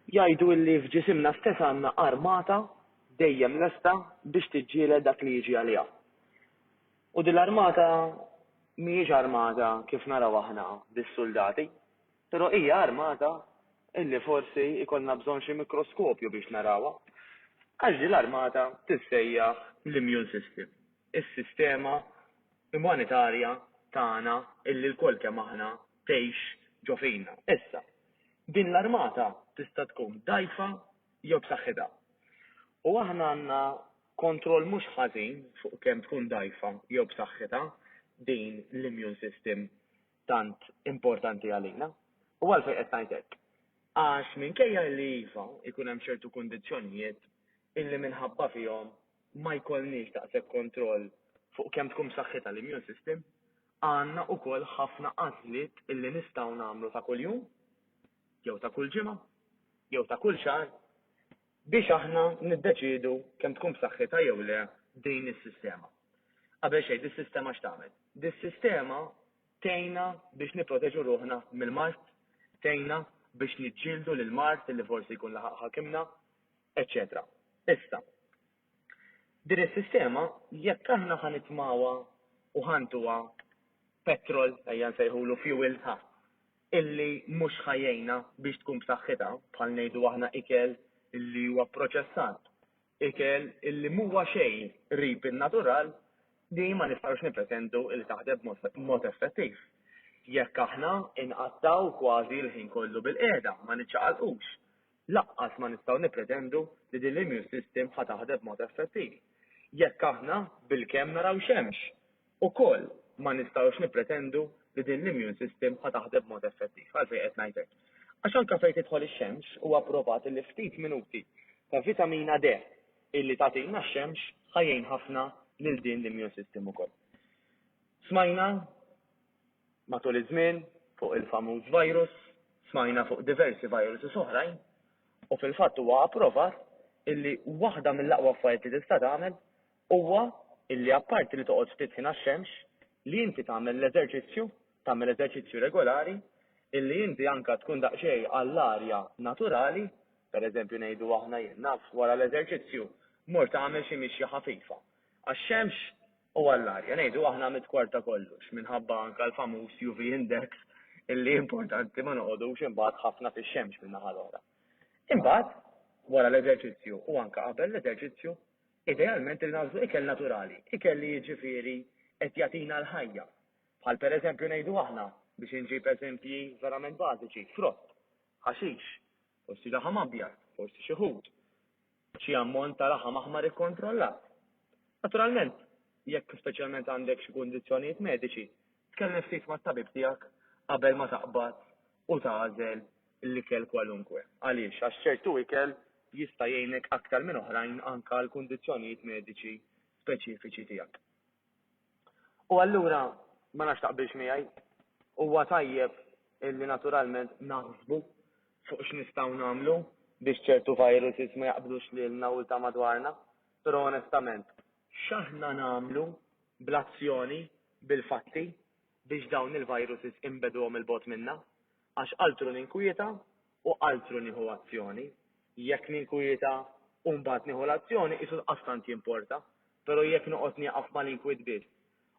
Jgħidu illi f'ġisimna stess għandna armata dejjem lesta biex tiġġieled dak li jiġi għaliha. U din l-armata mhijiex armata kif naraw aħna bis-suldati. Però hija armata illi forsi jkollna bżonn xi mikroskopju biex narawha. Għax din l-armata tissejjaħ l-immune system, is-sistema imonitarja tagħna illi lkoll kemm aħna tgħix ġo fina. Issa, din l-armata tista' tkun dgħajfa jew b'saħħitha. U aħna għandna kontroll mhux ħażin fuq kemm tkun dgħajfa jew b'saħħitha din l-immune system tant importanti għalina. U għalfejn qed ngħid hekk? Għax minkejja illi iva, ikun hemm ċertu kundizzjonijiet illi minħabba fihom ma jkollniex daqshekk kontroll fuq kemm tkun b'saħħitha l-immune system, għandna wkoll ħafna għażliet illi nistgħu nagħmlu ta' kuljum, jew ta' kull ġimgħa, jew ta' kull xahar, biex aħna niddeċiedu kemm tkun b'saħħitha jew le din is-sistema. Qabel xejn, dis-sistema x'tagħmel? Dis-sistema tgħinna biex nipproteġu ruħna mill-mard, tgħinna biex niġġieldu lill-mard li forsi jkun laħaq ħakimna, eċċetera. Issa, din is-sistema jekk aħna ħa nitmgħuha u ħa ntuha petrol, ejja nsejħulu fuel, ħa, illi mhux ħa jgħinha biex tkun b'saħħitha, bħal ngħidu aħna ikel illi huwa pproċessat, ikel illi m'huwa xejn qrib in-natural, din ma nistgħux nippretendu illi taħdem b'mod effettiv. Jekk aħna nqattgħu kważi l-ħin kollu bil-qiegħda, ma niċċaqalqux, laqqas ma nistgħu nippretendu li din l-immune system ħa taħdem b'mod effettiv. Jekk aħna bilkemm naraw xemx, Ukoll ma nistgħux nippretendu li din l-immune system ħa taħdem b'mod effettiv. Għalfejn qed ngħid hekk? Għax anke fejn tidħol ix-xemx huwa pprovat li ftit minuti ta' vitamina D illi tagħtina x-xemx ħa jgħin ħafna lil din l-immune system ukoll. Smajna matul iż-żmien fuq il-famuż virus, smajna fuq diversi viruses oħrajn u fil-fatt huwa approvat illi waħda mill-aqwa affarijiet li tista' tagħmel huwa illi apparti li toqgħod ftit ħin għax-xemx, li inti tagħmel l-eżerċizzju, tagħmel eżerċizzju regolari, illi inti anke tkun daqsxejn għall-arja naturali, pereżempju ngħidu aħna jien naf wara l-eżerċizzju mort għamel xi mixja ħafifa għax-xemx u għall-arja, ngħidu aħna mid-dwar ta' kollox, minħabba anke l-famuż UV index illi importanti ma noqogħdux imbagħad ħafna fix-xemx min-naħa l-oħra. Imbagħad wara l-eżerċizzju u anke qabel l-eżerċizzju Idealment irid nagħżlu ikel naturali, ikel li jiġifieri qed jagħtina l-ħajja. Bħal pereżempju ngħidu aħna, biex inġib eżempji verament bażiċi, frott, ħaxix, forsi laħam abjad, forsi xi ħut, xi ammont ta' laħam aħmar ikkontrollat. Naturalment, jekk speċjalment għandek xi kundizzjonijiet mediċi, Tkellem ftit mat-tabib tiegħek qabel ma taqbad u tagħżel l-ikel kwalunkwe. Għaliex? Għax ċertu ikel jista' jgħinek aktar minn oħrajn anke għall-kundizzjonijiet mediċi speċifiċi tiegħek. U allura, ma nafx taqbilx miegħi, huwa tajjeb illi naturalment naħsbu fuq x'nistgħu nagħmlu biex ċertu viruses ma jaqbdux lilna u lil ta' madwarna, però onestament, X'aħna nagħmlu bl-azzjoni, bil-fatti, biex dawn il-viruses inbegħduhom 'il bogħod minna? Għax altru ninkwieta u altru nieħu azzjoni. Jekk ninkwieta u mbagħad nieħu l-azzjoni qisu daqstant jimporta, però jekk noqgħod nieqaf mal-inkwiet biss,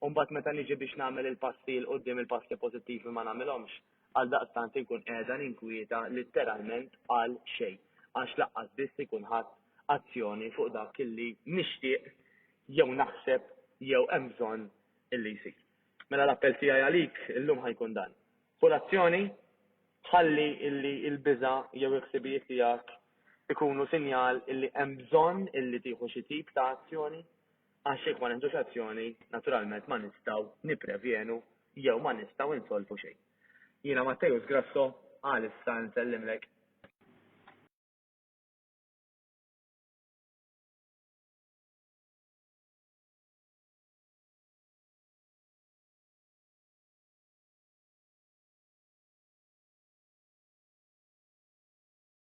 u mbagħad meta niġi biex nagħmel il-passi 'l quddiem il-passi pożittivi ma nagħmilhomx, għaldaqstant inkun qiegħda ninkwieta litteralment għal xejn għax lanqas biss ikun ħadt azzjoni fuq dak li nixtieq jew naħseb jew hemm bżonn li jsir. Mela l-appell tiegħi għalik illum ħa jkun dan. Ħu l-azzjoni, ħalli illi l-biża' jew il-ħsibijiet tiegħek ikunu sinjal illi hemm bżonn illi tieħu xi tip ta' azzjoni, Għax jekk ma neħdux azzjoni, naturalment ma nistgħu nipprevjenu jew ma nistgħu nsolvu xejn. Jiena Matteus Grasso, għalissa nsellimlek.